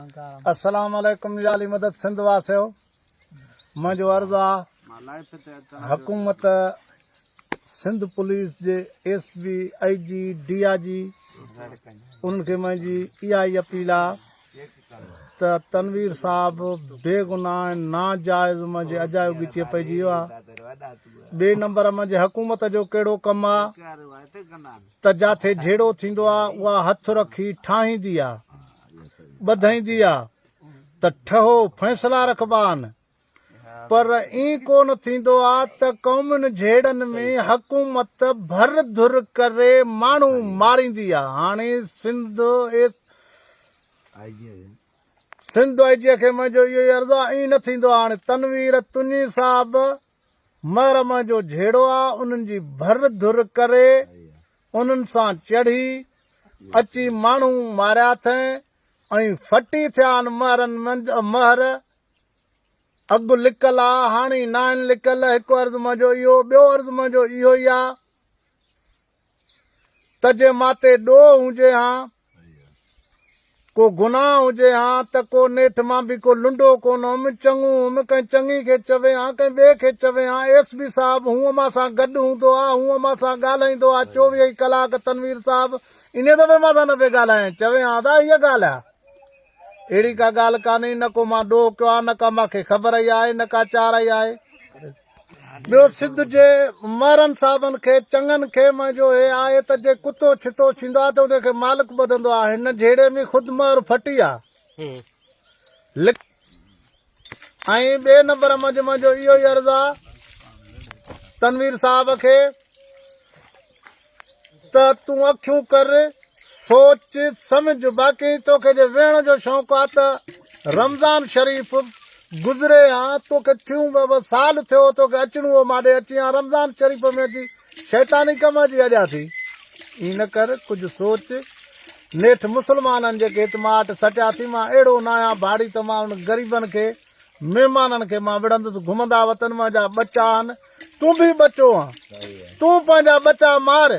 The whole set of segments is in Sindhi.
اسلام عليڪم يا علي مدد سنڌ واسيو منهنجو عرض آ حڪومت سنڌ پوليس جي ايس بي اي جي ڊي آ جي انهن کي منهنجي اها ئي اپيل آ ته تنوير صاحب بي گناهه ناجائز منهنجي اجايو گچي پئجي ويو آ ٻي نمبر منهنجي حڪومت جو ڪهڙو ڪم آ ته جاٿي جهيڙو ٿيندو آ اها هٿ رکي ٺاهيندي آ ٻڌائيندي آ ته ٺهو فيصلا رکبا آن پر اين ڪو نه ٿيندو آ ته قومين جهيڙن ۾ حڪومت ڀر ڌر ڪري ماڻهو ماريندي آ هاڻي سنڌ سنڌ آء جي کي منهنجو اهو ئي عرض آ اين نه ٿيندو آ هاڻي تنوير تني صاحب محرم جو جهيڙو آ انهن جي ڀر ڌر ڪري انهن سان چڙهي اچي ماڻهو ماريا اٿئين ۽ ڦٽي ٿيا آن مهرن منج مهر اڳ لڪل آ هاڻي ناهن لڪل هڪ عرض منهنجو اهو ٻيو عرض منهنجو اهو ئي آ ته جي مان تي ڏوهه هجي ها، ڪو گناهه هجي ها ته ڪو نيٺ مان به ڪو لنڊو ڪونه هئم، چڱو هئم، ڪنهن چڱي کي چوين ها، ڪنهن ٻئي کي چوين ها، ايس بي صاحب هونء مان سان گڏ هوندو ها، هونء مان سان ڳالهائيندو ها، چوويهه ئي ڪلاڪ تنوير صاحب انهيء دفعي مان سان نه پئي ڳالهائين، چوين ها ته هيء ڳالهه ها. اهڙي ڪا ڳالهه ڪانهي، نه ڪو مان ڏوهه ڪيو ها، نه ڪا مان کي خبر ئي آهي، نه ڪا چار ئي آهي. ٻيو سنڌ جي مهرن صاحبن کي چڱن کي منهنجو هي آهي ته جي ڪتو ڇتو ڇيندو آهي ته ان کي مالڪ ٻڌندو آهي هن جهيڙي ۾ خود مهر ڦٽي آهي لک ۽ ٻئي نمبر منجھ منجھو اهو ئي عرض آ تنوير صاحب کي ته تون اکيون ڪر، سوچ، سمجهه، باقي توکي جي ويهڻ جو شوق آ ته رمضان شريف گذري ها، توکي ٿيون ٻه ٻه سال ٿيو توکي اچڻو هو ماڏي اچين ها، رمضان شريف ۾ اچي شيطاني ڪم جي اڄا ٿي. ائين نه ڪر، ڪجهه سوچ، نيٺ مسلمانن جيڪي هت مان اٽ سٽيا ٿي، مان اهڙو ناهيان ڀاڙي ته مان انهن غريبن کي، مهمانن کي مان وڙهندس، گهمندا وطن مان جا ٻچا آهن، تون به ٻچو آن، تون پنهنجا ٻچا مار.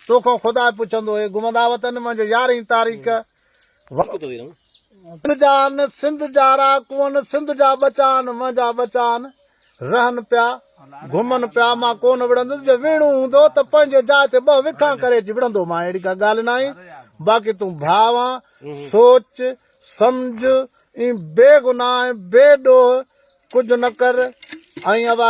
توکان خدا پڇندو، اي گمندا وطن منهنجو يارهين تاريخ وطن جا آن، سنڌ جا رهاڪو آن، سنڌ جا ٻچا آن، منهنجا ٻچا آن، رهن پيا، گهمن پيا، مان ڪونه وڙهندس، جي وڙهڻو هوندو ته پنهنجي جاء تي ٻه وکان ڪري اچي وڙهندو مان، اهڙي ڪا ڳالهه ناهي، باقي تون ڀاء آن، سوچ، سمجهه، اين بي گناهه ۽ بي ڏوهه ڪجهه نه ڪر، ۽ اوا.